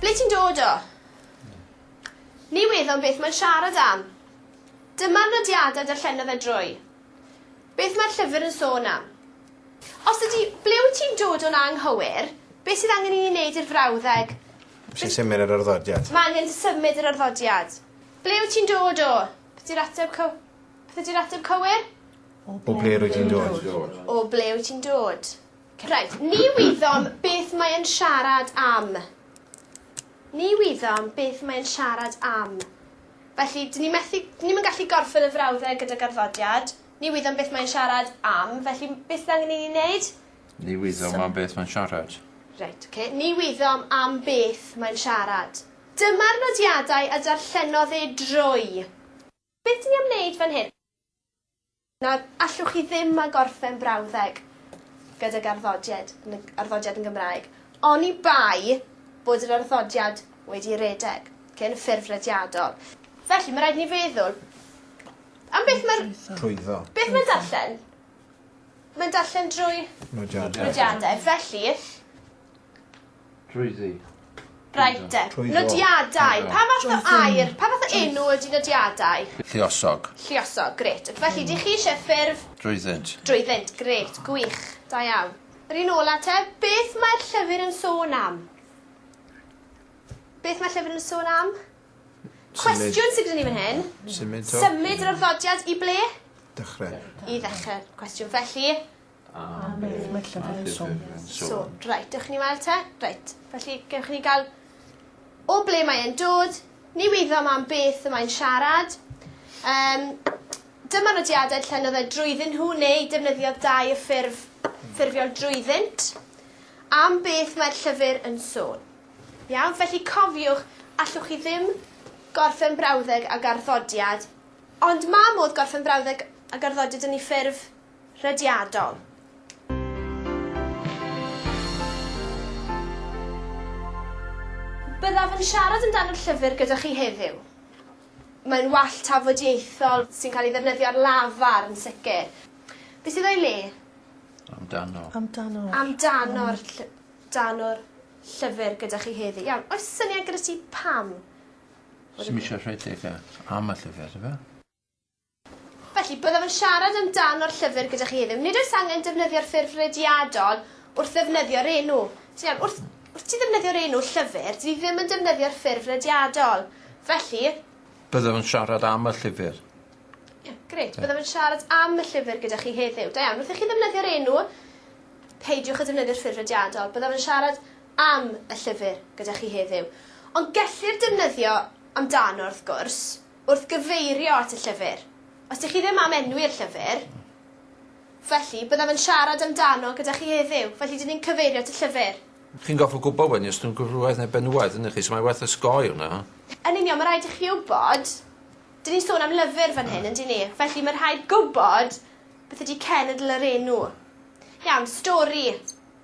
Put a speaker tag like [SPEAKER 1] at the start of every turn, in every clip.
[SPEAKER 1] Ble ti'n dod o? Ni weddom beth mae'n siarad am. Dyma'r nodiadau darllena fe drwy. Beth mae'r llyfr yn sôn am? Os ydy, ble wyt ti'n dod o'n anghywir, beth sydd angen i ni wneud i'r frawddeg? Sy'n symud
[SPEAKER 2] yr arddodiad. Mae angen symud yr
[SPEAKER 1] arddodiad. Ble wyt ti'n dod o? Beth yw'r ateb cyw... Beth ydi'r ateb cywir? O ble
[SPEAKER 2] rwy ti'n dod. O ble wyt ti'n
[SPEAKER 1] dod. Reit, ni wyddom beth mae yn siarad am. Ni wyddom beth mae yn siarad am. Felly, dyn ni methu, dyn ni'm yn gallu gorffen y frawddau gyda garddodiad. Ni wyddom beth mae'n siarad am, felly beth sydd angen i ni wneud? Ni wyddom
[SPEAKER 3] so. am beth mae'n siarad. Reit, oce. Okay. Ni
[SPEAKER 1] wyddom am beth mae'n siarad. Dyma'r nodiadau a darllenodd e drwy. Be dwi am neud fan hyn? Nawr, allwch chi ddim â gorffen brawddeg gydag arddodied yn y arddodiad yn Gymraeg, oni bai bod yr arddodiad wedi redeg, okay, yn y ffurf rediadol. Felly, mae rhaid ni feddwl am beth mae'r... Trwyddo. Beth mae'n
[SPEAKER 2] darllen?
[SPEAKER 1] Mae'n darllen drwy... Nodiadau. Nodiadau. Felly,
[SPEAKER 3] Trwyddi. Reit te.
[SPEAKER 1] Trwyddo. Nodiadau. Trwyddo. Pa fath o air, pa fath o enw ydy nodiadau? Lluosog.
[SPEAKER 3] Lluosog, grêt.
[SPEAKER 1] Ac felly, dych chi eisiau ffurf? Drwyddynt. Drwyddynt,
[SPEAKER 3] grêt,
[SPEAKER 1] gwych. Da iawn. Yr un ola te, beth mae'r llyfr yn sôn am? Beth mae'r llyfr yn sôn am? Cwestiwn sydd gyda ni fan hyn. Symud o. Symud yr arddodiad i ble? Dechrau.
[SPEAKER 2] I ddechrau'r
[SPEAKER 1] cwestiwn. Felly, Am beth
[SPEAKER 4] mae llyfr yn sôn? Sôn. Reit,
[SPEAKER 1] dewch i ni weld te. Reit, felly gewch ni gael o ble mae e'n dod, ni wyddo am am beth y mae'n siarad. Um, dyma nodiadau llennodd e drwyddyn nhw neu defnyddiodd dau y ffurf ffurfiol drwyddynt. Am beth mae'r llyfr yn sôn. Iawn, felly cofiwch, allwch chi ddim gorffen brawddeg ag arddodiad, ond mae modd gorffen brawddeg ag arddodiad yn ei ffurf rhediadol. Byddaf yn siarad amdano'r llyfr gyda chi heddiw. Mae'n wall tafodieithol sy'n cael ei ddefnyddio ar lafar yn sicr. Be sydd o'i le? Amdano. Amdano. Amdano'r lly- dano'r llyfr gyda chi heddi. Iawn, oes syniad gyda ti pam? Sdim
[SPEAKER 3] isio rhedeg e am y llyfr, do fe?
[SPEAKER 1] Felly, byddaf yn siarad am dan o'r llyfr gyda chi heddiw. Nid oes angen defnyddio'r ffurf rediadol wrth ddefnyddio'r enw. Ti'n iawn, wrth, wrth ti ddefnyddio'r enw llyfr, dyn ni ddim yn defnyddio'r ffurf rediadol. Felly, Byddaf yn
[SPEAKER 3] siarad am y llyfr. Ie, grêt.
[SPEAKER 1] Byddaf yn siarad am y llyfr gyda chi heddiw. Da iawn. Wrth i chi ddefnyddio'r enw, peidiwch â defnyddio'r ffurf rediadol. Byddaf yn siarad am y llyfr gyda chi heddiw. Ond gellir defnyddio amdano, wrth gwrs. wrth gyfeirio at y llyfr. Os dych chi ddim am enwi'r llyfr, felly, byddaf yn siarad amdano gyda chi heddiw, felly dyn ni'n cyfeirio at y llyfr. Chi'n gorfod gwybod
[SPEAKER 3] wedyn os ydyn nhw'n gwrywaidd neu benywaidd, yndych chi, so mae werth osgoi hwnna. Yn union, mae'n rhaid i
[SPEAKER 1] chi wybod, dyn ni'n sôn am lyfr fan hyn, yndyn ni, felly mae'n rhaid gwybod beth ydy cenedl yr enw. Iawn, stori.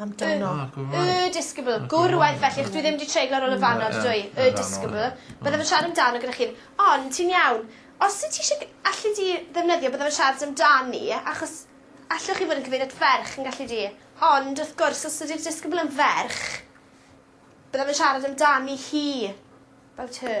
[SPEAKER 1] Amdano.
[SPEAKER 4] Y disgybl.
[SPEAKER 1] Gwr waeth felly achos dwi ddim 'di treiglo ar ôl y fan 'na on'd dwy? Y disgybl. Bydda fe'n siarad amdano gyda chi'n Ond ti'n iawn. Os wyt ti isie g- allet ti ddefnyddio bydda fe'n siarad amdani achos allwch chi fod yn cyfeirio at ferch yn gallu di? Ond wrth gwrs os ydi'r disgybl yn ferch bydda fe'n siarad amdani hi. 'bout her.